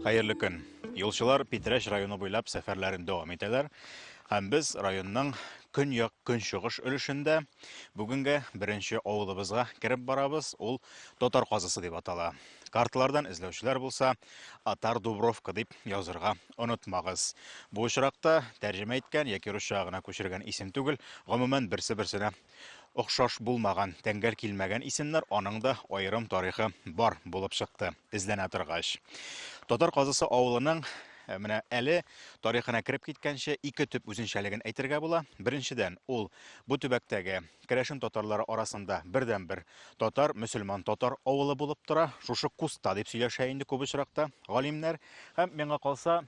Хәерле көн. Юлчылар Питрәч районы буйлап сәфәрләрен дәвам итәләр. Һәм без районның көньяк-көнчыгыш өлешендә бүгенге беренче авылыбызга кереп барабыз, ул Татар казасы дип атала. Карталардан эзләүчеләр булса, Атар Дубровка дип язырга онытмагыз. Бу очракта тәрҗемә иткән яки русчага гына күчергән исем түгел, гомумән берсе-берсенә Охшаш булмаган, тәңгәл килмәгән исемнәр аның да аерым тарихы бар булып чыкты, эзләнә торгач. Татар Казысы авылының Э, менә әле тарихына кереп киткәнче ике төп үзенчәлеген әйтергә була. Беренчедән, ул бу төбәктәге керәшен татарлары арасында бердәнбер татар, мөселман татар авылы булып тора. Шушы Куста дип сөйләшә инде күп очракта галимнәр. Һәм миңа калса,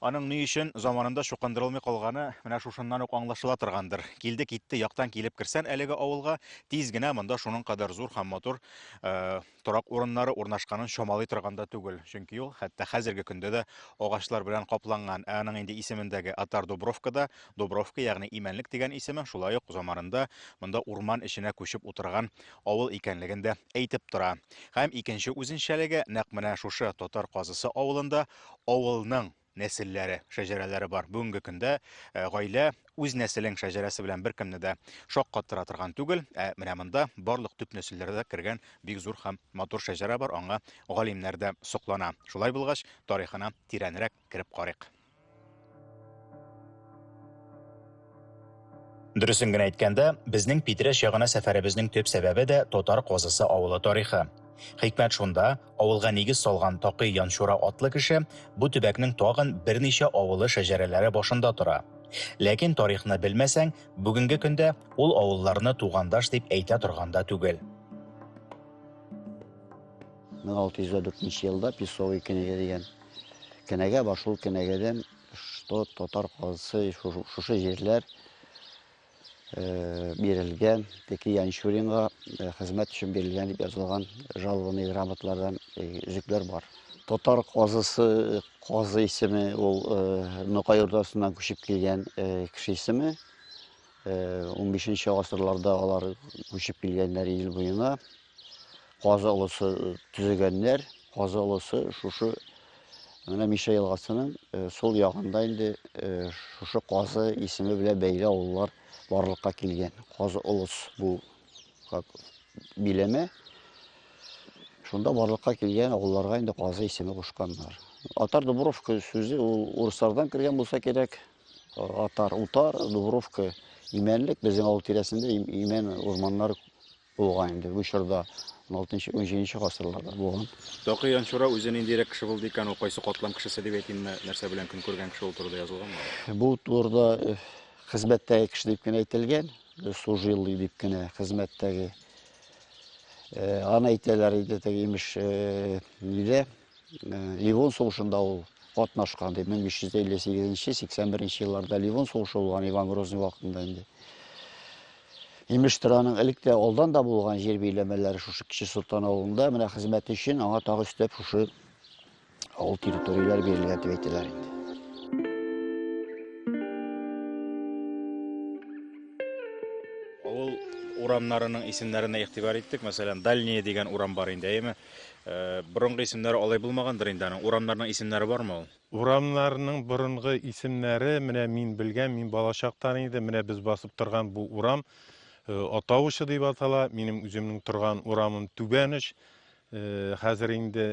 Аның ни өчен заманында чукындырылмый калганы менә шушыннан ук аңлашыла торгандыр. Килде китте яктан килеп керсән әлеге авылга, тиз генә монда шуның кадәр зур һәм матур э, торак урыннары урнашканын чамалый торган да түгел. Чөнки ул хәтта хәзерге көндә дә агачлар белән капланган. Ә аның инде исемендәге Атар Дубровкада, Дубровка, ягъни Имәнлек дигән исеме, шулай ук заманында монда урман эченә күчеп утырган авыл икәнлеген дә әйтеп тора. Һәм икенче үзенчәлеге нәкъ менә шушы Татар Казысы авылында авылның нәселләре, шәҗәрәләре бар. Бүгенге көндә э, гаилә үз нәселең шәҗәрәсе белән беркемне дә шаккаттыра торган түгел. Ә менә монда барлык төп нәселләрдә кергән бик зур һәм матур шәҗәрә бар. Аңа галимнәр дә соклана. Шулай булгач, тарихына тирәнрәк Кереп карыйк. Дөресен генә әйткәндә, безнең Питрәч ягына сәфәребезнең төп сәбәбе дә Татар Казысы авылы тарихы. Хикмәт шунда, авылга нигез салган Такый Янчура атлы кеше бу төбәкнең тагын берничә авылы шәҗәрәләре башында тора. Ләкин тарихны белмәсәң, бүгенге көндә ул авылларны тугандаш дип әйтә торган да түгел. 1604 елда Песовый кенәзе дигән Кенәгә бар, шул кенәгәдән, что татар казысы шушы җирләр бирелгән, теки Янчуринга хезмәт өчен бирелгән дип язылган жалованный грамоталардан өзекләр бар. Татар казысы, казы исеме ул Нокай Урдасыннан күчеп килгән кеше исеме. 15 нче гасырларда алар күчеп килгәннәр ил буена. Казы олысы төзегәннәр. Казы олысы шушы менә Миша елгасының сул ягында инде шушы Казы исеме белән бәйле авыллар барлыкка килгән. Казы олыс бу как биләмә. Шунда барлыкка килгән авылларга инде Казы исеме кушканнар. Атар Дубровка сүзе ул урыслардан кергән булса кирәк. Атар, утар, Дубровка, имәнлек. Безнең авыл тирәсендә имән урманнар Булган инде бу чорда, алтынчы, унҗиденче гасырларда булган. Такый Янчура үзе ниндирәк кеше булды икән, ул кайсы катлам кешесе дип әйтимме, нәрсә белән көн күргән кеше ул турыда язылганмы? Бу турыда э, хезмәттәге кеше дип кенә әйтелгән, э, служилый дип кенә хезмәттәге. Э, аны әйтәләр иде теге имеш, нидә Ливон сугышында ул катнашкан ди. 1358-81 елларда Ливон сугышы булган Иван Грозный вакытында инде. Имештер аның элек тә алдан да булган җир биләмәләре шушы Кече Солтан авылында менә хезмәт өчен аңа тагы өстәп шушы авыл территорияләре бирелгән дип әйтәләр инде. Авыл урамнарының исемнәренә игътибар иттек. Мәсәлән, Дальние дигән урам бар инде, әйеме? Борынгы исемнәре алай булмагандыр инде аның. Урамнарның исемнәре бармы ул? Урамнарның борынгы исемнәре, менә мин белгән, мин балачактан иде, менә без басып торган бу урам э, Атавычы дип атала, минем үземнең торган урамым Түбәныч, э, хәзер инде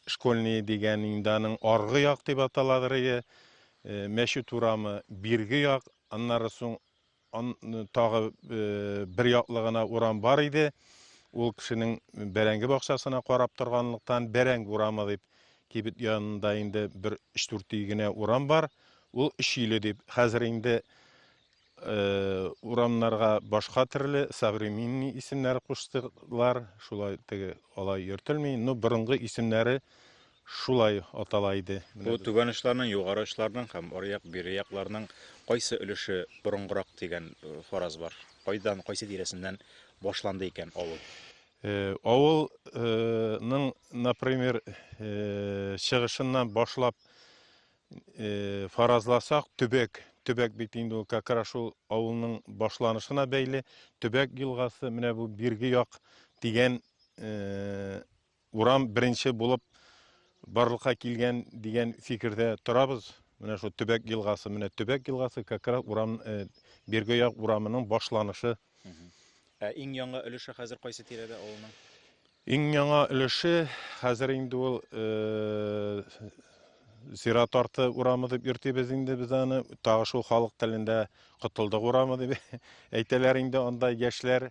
школьный дигән инде аның аргы як дип аталадыр иде, э, мәчет урамы бирге як, аннары соң Ан тагы бер яклы гына урам бар иде. Ул кешенең бәрәңге бакчасына карап торганлыктан бәрәңге урамы дип кибет янында инде бер 3-4 үй генә урам бар. Ул өч өйле дип. Хәзер инде урамнарга башка төрле современный исемнәр куштылар. Шулай теге алай йөртелми. Ну, борынгы исемнәре шулай атала иде. Бу түбән очларның, югары очларның һәм аръяк, биръякларның кайсы өлеше борынгырак дигән фараз бар. Кайдан, кайсы тирәсеннән башланды икән авыл? Авылның, например, чыгышыннан башлап фаразласак, төбәк, төбәк бит инде ул как раз шул авылның башланышына бәйле, төбәк елгасы, менә бу бирге як дигән Урам беренче булып барлыкка килгән дигән фикердә торабыз. Менә шул төбәк елгасы, менә төбәк елгасы как раз урам э, Бирге як урамының башланышы. Ә иң яңа өлеше хәзер кайсы тирәдә авылның? Иң яңа өлеше хәзер инде ул э, Зират арты урамы дип йөртибез инде без аны. Тагы шул халык телендә Котылдык урамы дип әйтәләр инде анда яшьләр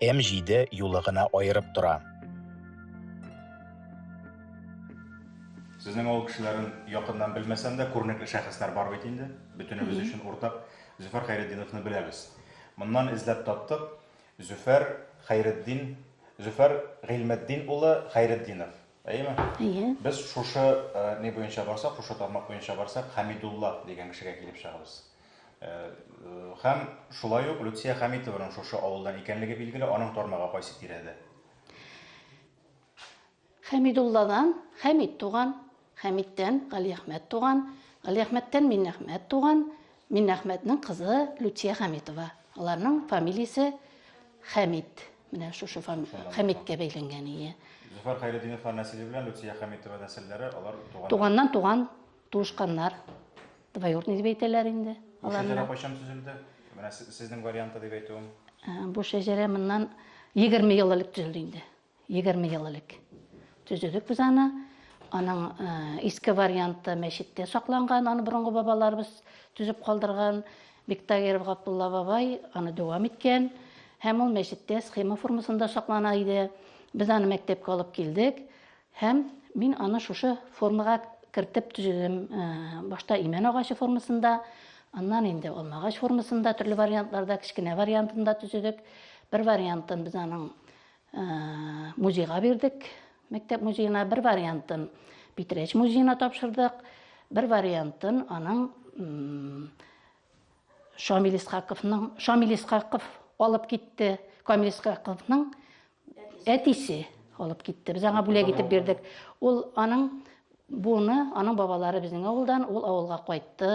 М7 юлы гына аерып тора. Сезнең авыл кешеләрен якыннан белмәсәм дә, күренекле шәхесләр бар бит инде. Бөтенебез өчен уртак Зөфәр Хәйретдиновны беләбез. Моннан эзләп таптык. Зөфәр Хәйретдин, Зөфәр Гыйльметдин улы Хәйретдинов. Әйеме? Әйе. Без шушы ни буенча барсак, шушы тармак буенча барсак, Хәмидулла дигән кешегә килеп чыгабыз. Һәм шулай ук Люция Хәмитованың шушы авылдан икәнлеге билгеле, аның тармагы кайсы тирәдә? Хәмидулладан Хәмид туган, Хәмидтән Галиәхмәт туган, Галиәхмәттән Миннәхмәт туган, Миннәхмәтнең кызы Люция Хәмитова. Аларның фамилиясе Хәмид. Менә шушы фам... Хәмиткә бәйләнгән, ие. Зөфәр Хәйретдиновлар нәселе белән Люция Хәмитова нәселләре, алар туган. Туганнан туган, туышканнар. Двоюродный дип әйтәләр инде. Бу шәҗәрә кайчан төзелде? Менә сезнең варианты дип әйтүем. Ә, бу шәҗәрә моннан 20 ел элек төзелде инде. 20 ел элек. Төзедек без аны. Аның ә, иске варианты мәчеттә сакланган, аны борынгы бабаларыбыз төзеп калдырган. Биктагиров Габдулла бабай аны дәвам иткән һәм ул мәчеттә схема формасында саклана иде. Без аны мәктәпкә алып килдек һәм мин аны шушы формага кертеп төзедем. Э, башта имән агачы формасында, аннан инде алмагач формасында, төрле вариантларда, кечкенә вариантында төзедек. Бер вариантын без аның музейга бирдек мәктәп музеена бер вариантын питрәч музеена тапшырдык бер вариантын аның шамил исхаковның шамил исхаков алып китте камил исхаковның әтисе алып китте без аңа бүләк итеп бирдек ул аның буны аның бабалары безнең авылдан ул авылга кайтты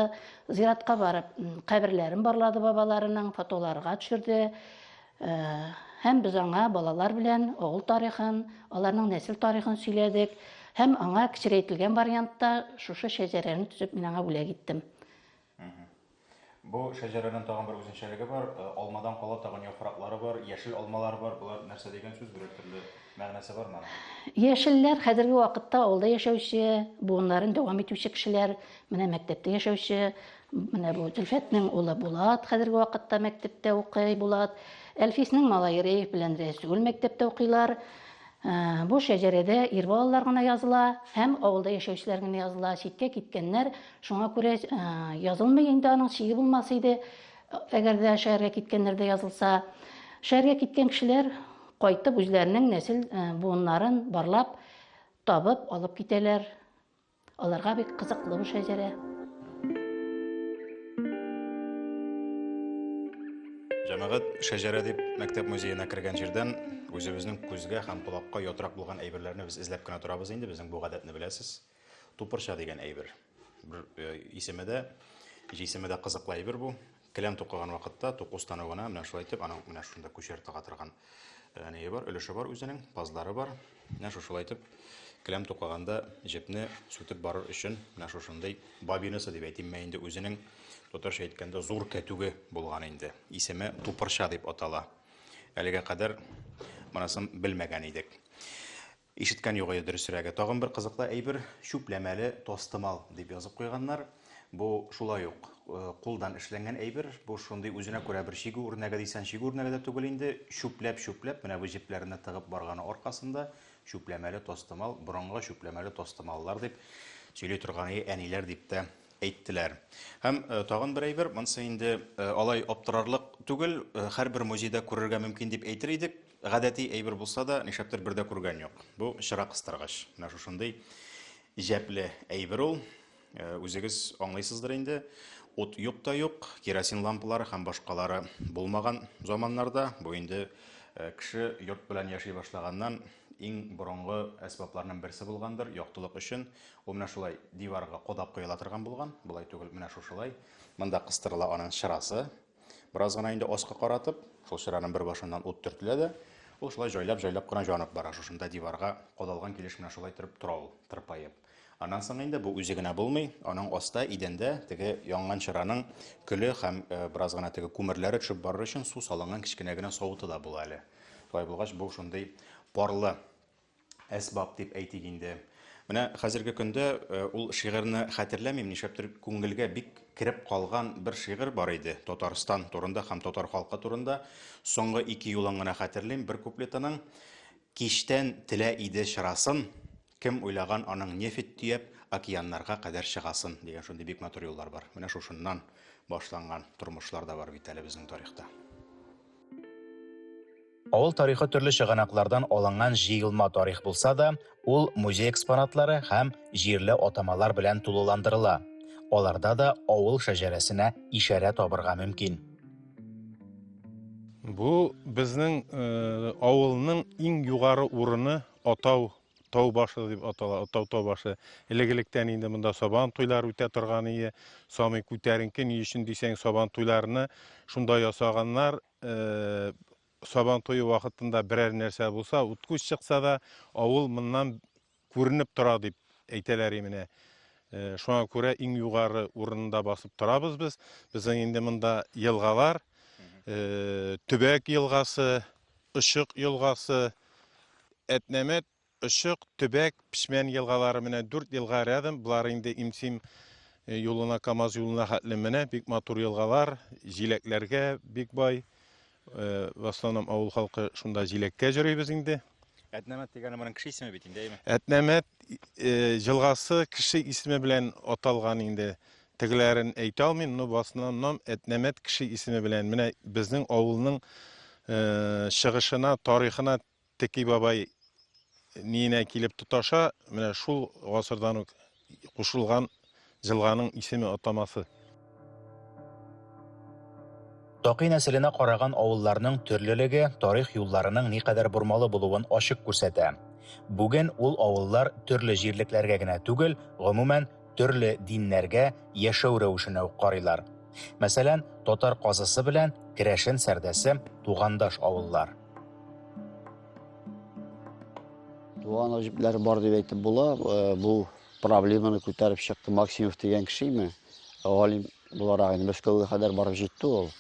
зиратка барып каберләрен барлады бабаларының фотоларга төшерде Һәм без аңа балалар белән авыл тарихын, аларның нәсел тарихын сөйләдек. Һәм аңа кечерәйтелгән вариантта шушы шәҗәрәне төзеп мин аңа бүләк иттем. Бу шәҗәрәнең тагын бер үзенчәлеге бар. Э, алмадан кала тагын яфраклары бар, яшел алмалар бар. Булар нәрсә дигән сүз бирер төрле мәгънәсе бар моның? Яшелләр хәзерге вакытта авылда яшәүче, буыннарын дәвам итүче кешеләр, менә мәктәптә яшәүче, Менә бу Зөлфәтнең улы Булат хәзерге вакытта мәктәптә укый. Булат Әлфиснең малае Рәйф белән Рәсүл мәктәптә укыйлар. Ә, Бу шәҗәрәдә ир балалар гына языла һәм авылда яшәүчеләр генә языла, читкә киткәннәр. Шуңа күрә ә, язылмый инде, аның чиге булмас иде, әгәр дә шәһәргә киткәннәр дә язылса. Шәһәргә киткән кешеләр кайтып үзләренең нәсел ә, буыннарын барлап, табып алып китәләр. Аларга бик кызыклы бу шәҗәрә. Җәмәгать шәҗәрә дип мәктәп музеена кергән җирдән үзебезнең күзгә һәм колакка ятрак булган әйберләрне без эзләп кенә торабыз инде, безнең бу гадәтне беләсез. Тупырча дигән әйбер. Бер э, исеме дә, җисеме дә кызыклы әйбер бу. Келәм тукыган вакытта туку станогына менә шулай итеп, аның менә шунда күчәр тага торган э, нее бар, өлеше бар үзенең, пазлары бар. Менә шушылай итеп келәм тукыганда җепне сүтеп барыр өчен менә шушындый бабинасы дип әйтимме инде үзенең татарча әйткәндә зур кәтүге булган инде. Исеме тупырча дип атала. Әлегә кадәр монысын белмәгән идек. Ишеткән юк иде, дөресрәге. Тагын бер кызыклы әйбер, чүпләмәле тастымал дип язып куйганнар. Бу шулай ук кулдан эшләнгән әйбер. Бу шундый үзенә күрә бер чигү үрнәге дисән, чигү үрнәге дә түгел инде. Чүпләп-чүпләп, менә бу җепләренә тыгып барганы аркасында, чүпләмәле тастымал, борынгы чүпләмәле тастымаллар дип сөйли торганы әниләр дип тә әйттеләр. Һәм тагын бер әйбер, монысы инде алай аптырарлык түгел, һәрбер музейда күрергә мөмкин дип әйтер идек. Гадәти әйбер булса да, нишләптер бер дә күргән юк. Бу чыра кыстыргыч. Менә шушындый җәпле әйбер ул. Э, үзегез аңлыйсыздыр инде. Ут юк та юк, керосин лампалары һәм башкалары булмаган заманнарда, бу инде э, кеше йорт белән яши башлаганнан иң борынгы әсбапларның берсе булгандыр, яктылык өчен. Ул менә шулай диварга кодап куела торган булган, болай түгел, менә шушылай. Монда кыстырыла аның чырасы. Бераз гына инде аска каратып, шул чыраның бер башыннан ут төртелә дә, ул шулай җайлап-җайлап кына җанып бара. Шушында диварга кадалган килеш менә шулай торып тора ул, тырпаеп. Аннан соң инде бу үзе генә булмый, аның аста идәндә теге янган чыраның көле һәм э, бераз гына теге күмерләре төшеп барыр өчен су салынган кечкенә генә савыты да була әле. Шулай булгач, бу шундый парлы әсбап дип әйтик инде. Менә хәзерге көндә э, ул шигырьне хәтерләмим, нишләптер күңелгә бик кереп калган бер шигырь бар иде Татарстан турында һәм татар халкы турында. Соңгы ике юлын гына хәтерлим бер куплетының. Киштән телә иде чырасын, кем уйлаган аның нефть төяп, океаннарга кадәр чыгасын дигән шундый бик матур юллар бар. Менә шушыннан башланган тормышлар да бар бит әле безнең тарихта. Авыл тарихы төрле чыганаклардан алынган җыелма тарих булса да, ул музей экспонатлары һәм җирле атамалар белән тулыландырыла. Аларда да авыл шәҗәрәсенә ишарә табырга мөмкин. Бу безнең э, авылның иң югары урыны атау Тау башы дип атала, тау тау башы. Элек-электән инде монда сабан туйлар үтә торган ие. Самый күтәренке ни өчен дисәң, сабан туйларны шунда ясаганнар. Э, сабан туе вакытында берәр нәрсә булса, уткуч чыкса да, авыл моннан күренеп тора дип әйтәләр именә. Э, шуңа күрә иң югары урынында басып торабыз без. Безнең инде монда елгалар, э, Төбәк елгасы, Очык елгасы, Әтнәмәт, Очык, Төбәк, Печмән елгалары, менә дүрт елга рядом, болар инде Имсим юлына, Камаз юлына хәтле менә, бик матур елгалар, җиләкләргә бик бай. В основном авыл халкы шунда җиләккә җөрибез инде. Әтнәмәт дигәне моның кеше исеме бит инде, әйме? Әтнәмәт елгасы кеше исеме белән аталган инде. Тегеләрен әйтә алмыйм, но басыннан әтнәмәт кеше исеме белән менә безнең авылның чыгышына, тарихына Теки бабай ниенә килеп тоташа, менә шул гасырдан ук кушылган җылганың исеме атамасы. Такый нәселенә караган авылларның төрлелеге тарих юлларының никадәр бормалы булуын ачык күрсәтә. Бүген ул авыллар төрле җирлекләргә генә түгел, гомумән, төрле диннәргә яшәү рәвешенә үк карыйлар. Мәсәлән, татар казысы белән керәшен сәрдәсе тугандаш авыллар. Туган гаҗипләр бар дип әйтеп була. Э, бу проблеманы күтәреп чыкты Максимов дигән кеше име? Галим буларак инде Мәскәүгә кадәр барып җитте ул.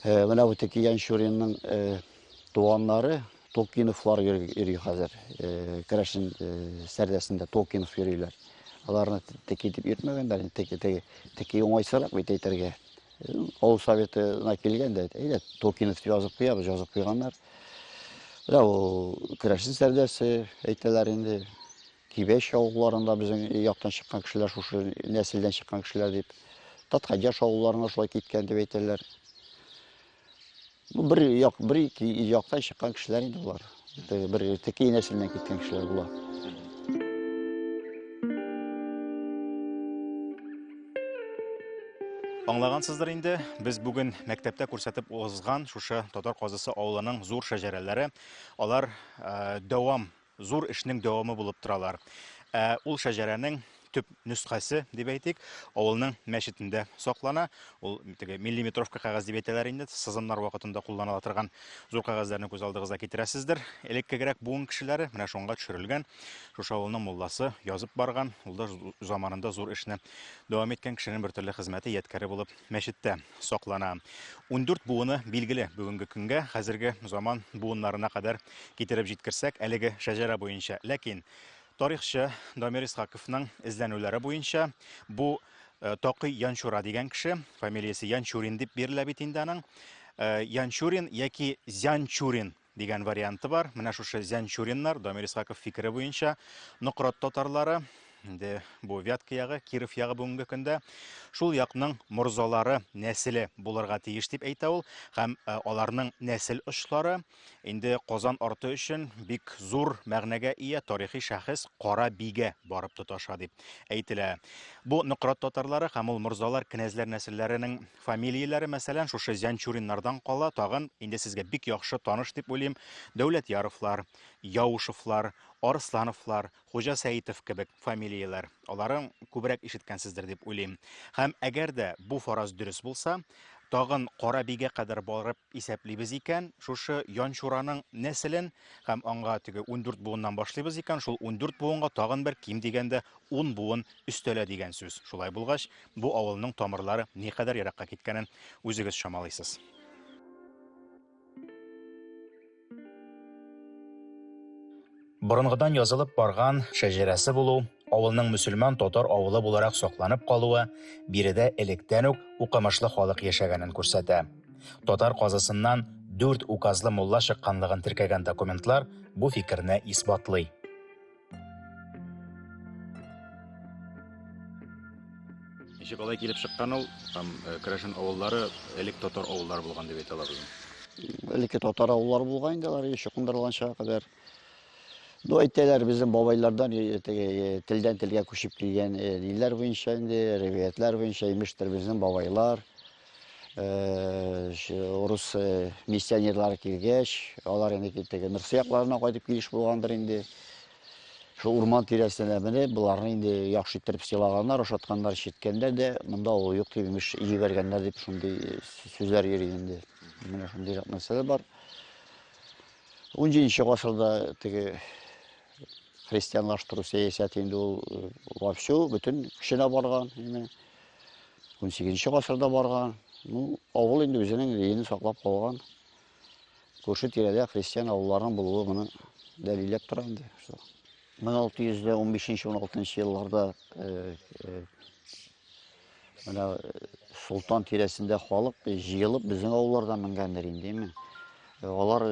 Э, менә бу Текиян Шуринның э, туганнары Толкиновлар йөри хәзер. Керәшен сәрдәсендә Толкинов йөриләр. Аларны теки дип йөртмәгәннәр, теки, теки, теки уңайсырак бит әйтергә. Авыл советына килгән дә, әйдә, Толкинов дип язып куябыз, язып куйганнар. Менә ул керәшен сәрдәсе әйтәләр инде. Кибәч авылларында безнең яктан чыккан кешеләр шушы нәселдән чыккан кешеләр дип. Таткадяш авылларына шулай киткән дип әйтәләр. Бер як, бер ике яктан чыккан кешеләр инде болар. Бер текей нәселеннән киткән кешеләр була. Аңлагансыздыр инде, без бүген мәктәптә күрсәтеп узган шушы татар казысы авылының зур шәҗәрәләре, алар ә, дәвам зур эшнең дәвамы булып торалар. Ә ул шәҗәрәнең төп нөсхәсе, дип әйтик, авылның мәчетендә саклана. Ул теге милли метровка кәгазь дип әйтәләр инде, сызымнар вакытында кулланыла торган зур кәгазьләрне күз алдыгызга китерәсездер. Элеккегрәк буын кешеләре менә шунга төшерелгән. Шушы авылның мулласы язып барган, ул да заманында зур эшне дәвам иткән кешенең бертөрле хезмәте ядкәре булып мәчеттә саклана. Ундүрт буыны билгеле бүгенге көнгә, хәзерге заман буыннарына кадәр китереп җиткерсәк, әлеге шәҗәрә буенча. Ләкин тарихчы Дамир Исхаковның эзләнүләре буенча бу э, Такый Янчура дигән кеше, фамилиясе Янчурин дип бирелә бит инде аның. Э, Янчурин яки Зянчурин дигән варианты бар. Менә шушы Зянчуриннар, Дамир Исхаков фикере буенча, Нократ татарлары, инде бу Вятка ягы, Киров ягы бүгенге көндә шул якның морзалары нәселе булырга тиеш дип әйтә ул. Һәм э, аларның нәсел очлары инде Казан арты өчен бик зур мәгънәгә ия тарихи шәхес Кара биге барып тоташа дип әйтелә. Бу Нократ татарлары һәм ул морзалар кенәзләр нәселләренең Фамилияләре, мәсәлән, шушы Зянчуриннардан кала, тагын инде сезгә бик яхшы таныш дип уйлыйм, Дәүләтьяровлар, Яушевлар, Арслановлар, Хуҗасәитов кебек фамилияләр. Аларын күбрәк ишеткәнсездер дип уйлыйм. Һәм әгәр дә бу фараз дөрес булса, тагын Карабигә кадәр барып Исәплибез икән, шушы Янчураның нәселен һәм аңга теге ундүрт буыннан башлыйбыз икән, шул ундүрт буынга тагын бер ким дигәндә ун буын өстәлә дигән сүз. Шулай булгач, бу авылның тамырлары никадәр еракка киткәнен үзегез чамалыйсыз. Борынгыдан язылып барган шәҗәрәсе булу, авылның мөселман татар авылы буларак сакланып калуы биредә электән үк укымышлы халык яшәгәнен күрсәтә. Татар казысыннан дүрт указлы мулла чыкканлыгын теркәгән документлар бу фикерне исбатлый. Ничек алай килеп чыккан ул? Там э, Крәшен авыллары элек татар авыллары булган дип әйтәләр безне. Элекке татар авыллары булган инде алар еще кундырылганчага кадәр. Ну, әйтәләр, безнең бабайлардан э, теге, э, телдән телгә күчеп килгән э, ниләр буенча инде, риваятлар буенча, имештер безнең бабайлар, Урыс миссионерлары килгәч, алар инде китеге Нурсы якларына кайтып килеш булгандыр инде. Шул урман тирәсенә менеп, боларны инде яхшы иттереп сыйлаганнар, ашатканнар, читкәннәр дә, монда ул юк дип имеш, җибәргәннәр дип шундый сүзләр йөри инде. Менә шундый нәрсә бар. 17 нче гасырда теге христианлаштыру сәясәте инде ул вовсю бөтен кешенә барган. Именно. 18-нче гасырда барган. Ну, авыл инде үзенең рейен саклап калган. Күрше тирәдә христиан авылларының булуы моны дәлилләп тора инде. 1615-16 елларда э, э, менә э, Солтан тирәсендә халык җыелып безнең авыллардан менгәндер инде. Алар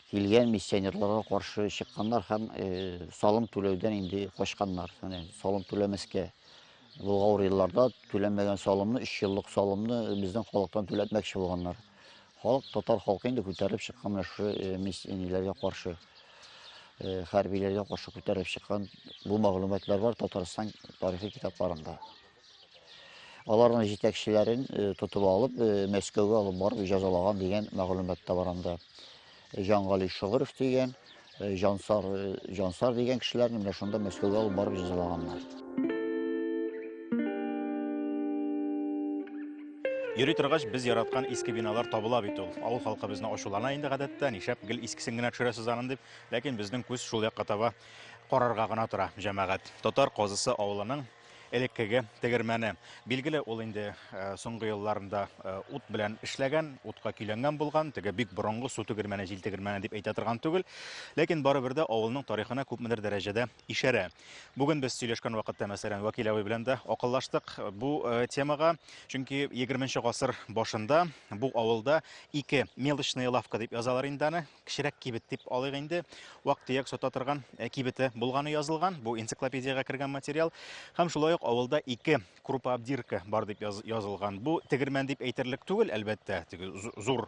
килгән миссионерларга каршы чыкканнар һәм салым түләүдән инде качканнар. Менә салым түләмәскә бу авыр елларда түләмәгән салымны, 3 еллык салымны безнең халыктан түләтмәкче булганнар. Халык, татар халкы инде күтәреп чыккан менә шушы миссионерларга каршы, хәрбиләргә каршы күтәреп чыккан бу мәгълүматлар бар Татарстан тарихи китапларында. Аларның җитәкчеләрен тотып алып, Мәскәүгә алып барып җәзалаган дигән мәгълүмат та бар анда. Җангали Шогыров дигән, Җансар, Җансар дигән кешеләрне менә шунда Мәскәүгә алып барып җәзалаганнар. Йөри торгач, без яраткан иске биналар табыла бит ул. Авыл халкы безне ачулана инде гадәттә, нишләп гел искесен генә төшерәсез анын дип, ләкин безнең күз шул якка таба карарга гына тора, җәмәгать. Татар Казысы авылының элеккеге тегермәне. Билгеле, ул инде э, соңгы елларында э, ут белән эшләгән, утка көйләнгән булган, теге бик борынгы су тегермәне, җил тегермәне дип әйтә торган түгел. Ләкин барыбер дә авылның тарихына күпмедер дәрәҗәдә ишәрә. Бүген без сөйләшкән вакытта, мәсәлән, Вәкил абый белән дә акыллаштык э, бу темага, чөнки 20 гасыр башында бу авылда ике мелочная лавка дип язалар инде аны, кечерәк кибет дип алыйк инде, вак-төяк сата торган э, кибете булганы язылган. Бу энциклопедиягә кергән материал. Һәм шулай ук авылда ике крупа абдирка бар дип язылган. Бу тегермән дип әйтерлек түгел, әлбәттә, теге зур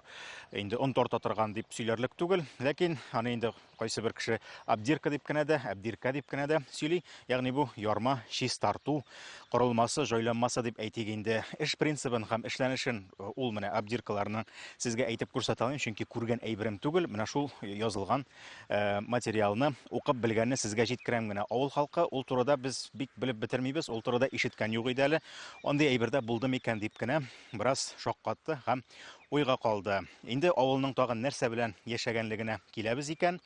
инде он тарта торган дип сөйләрлек түгел. Ләкин аны инде кайсы бер кеше абдирка дип кенә дә, абдирка дип кенә дә сөйли. Ягъни бу ярма чистарту корылмасы, җайланмасы дип әйтик инде. Эш принцибын һәм эшләнешен э, ул менә обдиркаларны сезгә әйтеп күрсәтә алмыйм, чөнки күргән әйберем түгел. Менә шул язылган э, материалны укып белгәнне сезгә җиткерәм генә. Авыл халкы ул турыда без бик белеп бетермибез, ул турыда ишеткән юк иде әле. Андый әйбердә булды микән дип кенә бераз шаккатты һәм уйга калды. Инде авылның тагын нәрсә белән яшәгәнлегенә киләбез икән.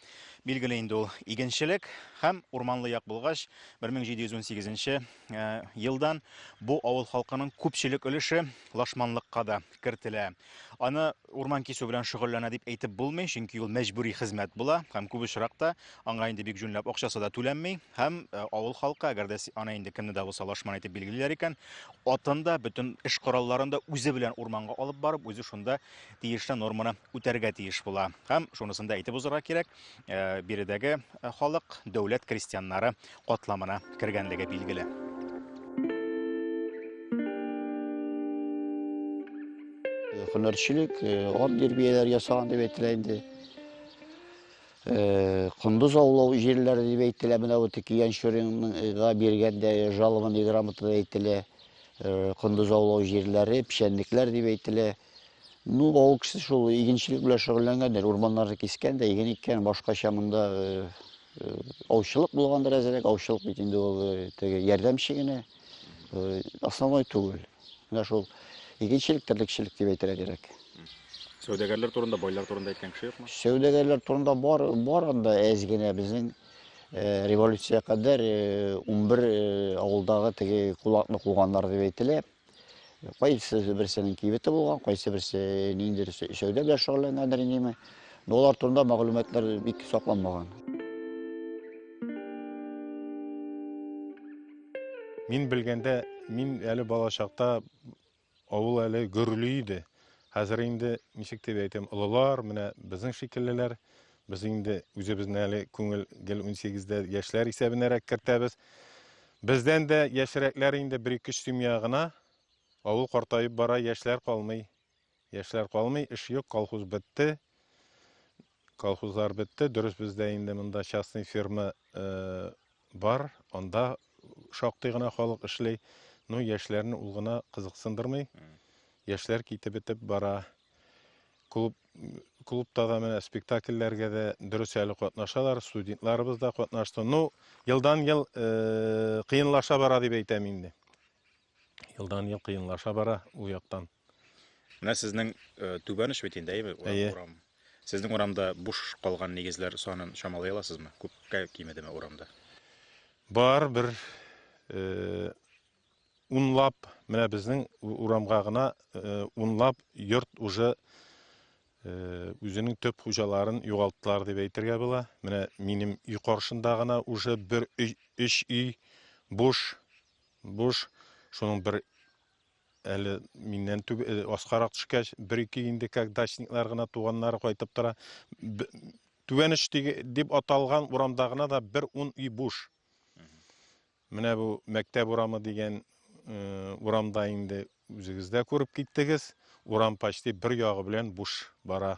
Билгеле инде ул игенчелек һәм урманлы як булгач, 1718 э, елдан бу авыл халкының күпчелек өлеше лашманлыкка да кертелә. Аны урман кисү белән шөгыльләнә дип әйтеп булмый, чөнки ул мәҗбүри хезмәт була һәм күп очракта аңа инде бик җүнләп акчасы да түләнми һәм э, авыл халкы, әгәр дә аны инде кемне дә булса лашман итеп билгелиләр икән, атын да, бөтен эш коралларын да үзе белән урманга алып барып, үзе шунда тиешле норманы үтәргә тиеш була. Һәм шунысын да әйтеп узарга кирәк, э, биредәге э, халык дәүләт крестьяннары катламына кергәнлеге билгеле. Хөнәрчелек, ат дирбияләр ясаган дип әйтелә инде. Э, Кундуз аулау җирләре дип әйтелә, менә вот Киян Шүринга биргәндә жалованный грамотада әйтелә. Кондыз аулау җирләре, печәнлекләр дип әйтелә. Ну, авыл кешесе шул игенчелек белән шөгыльләнгәндер, урманнарны кискән дә, иген иккән, башкача монда аучылык булгандыр әзерәк, аучылык бит инде ул теге ярдәмче генә, основной түгел. Менә шул игенчелек, терлекчелек дип әйтергә кирәк. Сәүдәгәрләр турында, байлар турында әйткән кеше юкмы? Сәүдәгәрләр турында бар, бар анда әз генә безнең Э, революция кадәр 11 э, э, авылдагы теге кулакны куганнар дип әйтелә. Кайсы берсенең кибете булган, кайсы берсе ниндидер эшләүдә белән шөгыльләнгәндер инеме. Но алар турында мәгълүматлар бик сакланмаган. Мин белгәндә, мин әле балачакта Авыл әле гөрли иде. Хәзер инде, ничек дип әйтим, олылар, менә безнең шикеллеләр. Без инде үзебезне әле күңел гел унсигездә яшьләр исәбенәрәк кертәбез. Бездән дә яшьрәкләр инде бер-ике семья гына. Авыл картаеп бара, яшьләр калмый. Яшьләр калмый, эш юк, колхоз бетте. Колхозлар бетте. Дөрес, бездә инде монда частный фирма бар, анда шактый гына халык эшли. Ну, яшьләрне ул гына кызыксындырмый. Яшьләр китеп бетеп бара. Клуб клубта да менә спектакльләргә дә дөрес әле катнашалар, студентларыбыз да катнашты. Ну, елдан ел э, кыенлаша бара дип әйтәм инде. Елдан ел кыенлаша бара ул яктан. Менә сезнең э, түбән оч бит инде, әйеме? Урам, Әйе. урам. Сезнең урамда буш калган нигезләр санын чамалый аласызмы? Күпкә кимедеме урамда? Бар бер э, унлап, менә безнең у- урамга гына э, унлап йорт уже э, үзенең төп хуҗаларын югалттылар дип әйтергә була. Менә минем өй каршында гына уже бер өй, өч өй буш, буш. Шуның бер әле миннән түб э, аскарак төшкәч бер ике инде как дачниклар гына туганнары кайтып тора түбәнеш дип аталган урамда гына да бер ун өй буш менә бу мәктәп урамы дигән э, урамда инде үзегез дә күреп киттегез урам почти бер ягы белән буш бара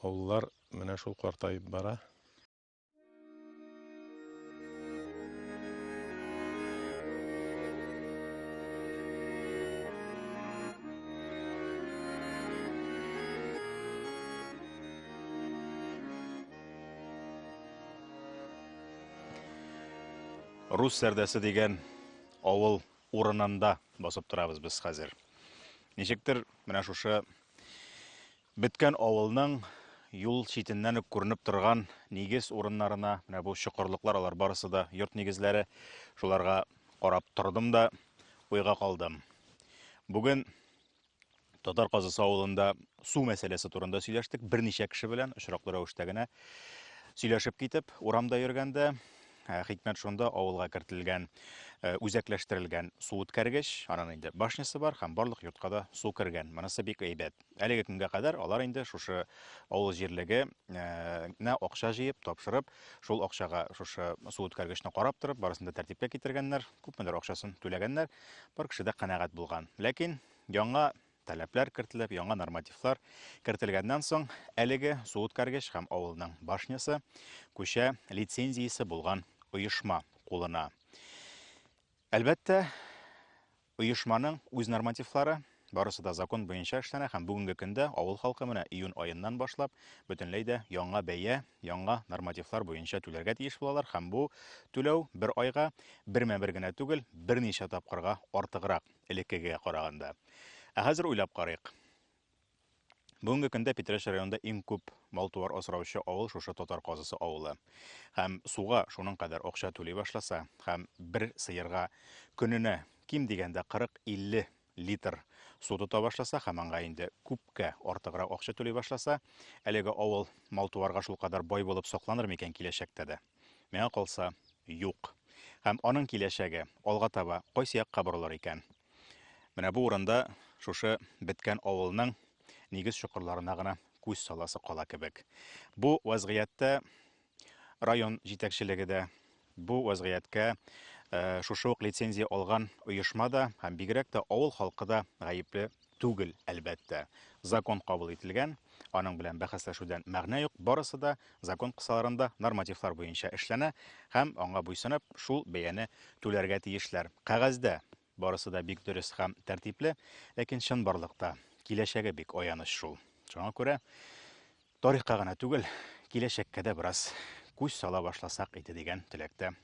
авыллар менә шул картаеп бара Рус сәрдәсе дигән авыл урынында басып торабыз без хәзер. Ничектер, менә шушы Беткән авылның юл читеннән үк күренеп торган нигез урыннарына, менә бу чокырлыклар, алар барысы да йорт нигезләре, шуларга карап тордым да уйга калдым. Бүген Татар Казысы авылында су мәсьәләсе турында сөйләштек берничә кеше белән очраклы рәвештә генә сөйләшеп китеп урамда йөргәндә ә, хикмәт шунда авылга кертелгән ә, үзәкләштерелгән су үткәргеч, аның инде башнясы бар һәм барлык йортка да су кергән. Монысы бик әйбәт. Әлеге көнгә кадәр алар инде шушы авыл җирлегенә акча җыеп, тапшырып, шул акчага шушы су үткәргечне карап торып, барысын да тәртипкә китергәннәр, күпмедер акчасын түләгәннәр, бар кеше дә канәгать булган. Ләкин яңа таләпләр кертелеп, яңа нормативлар кертелгәннән соң, әлеге су үткәргеч һәм авылның башнясы күчә лицензиясе булган оешма кулына. Әлбәттә, Оешманың үз нормативлары, барысы да закон буенча эшләнә һәм бүгенге көндә авыл халкы менә июнь аеннан башлап бөтенләй дә яңа бәя, яңа нормативлар буенча түләргә тиеш булалар һәм бу түләү бер айга бермә-бер генә түгел, берничә тапкырга артыграк элеккегегә караганда. Ә хәзер уйлап карыйк. Бүгенге көндә Питрәч районында иң күп мал-туар асраучы авыл шушы Татар Казысы авылы. Һәм суга шуның кадәр акча түли башласа, һәм бер сыерга көненә ким дигәндә 40-50 литр су тота башласа, һәм аңа инде күпкә артыграк акча түли башласа, әлеге авыл мал-туарга шул кадәр бай булып сакланыр микән киләчәктә дә? Миңа калса, юк. Һәм аның киләчәге алга таба кайсы якка борылыр икән? Менә бу урында шушы беткән авылның нигез чокырларына гына күз саласы кала кебек. Бу вазгыятьтә район җитәкчелеге дә, бу вазгыятькә э, шушы ук лицензия алган оешма да һәм бигрәк тә авыл халкы да гаепле түгел, әлбәттә. Закон кабул ителгән, аның белән бәхәсләшүдән мәгънә юк, барысы да Закон кысаларында нормативлар буенча эшләнә һәм, аңа буйсынып, шул бәяне түләргә тиешләр. Кәгазьдә барысы да бик дөрес һәм тәртипле, ләкин чынбарлыкта киләчәге бик аяныч шул. Шуңа күрә тарихка гына түгел, киләчәккә дә бераз күз сала башласак иде дигән теләктә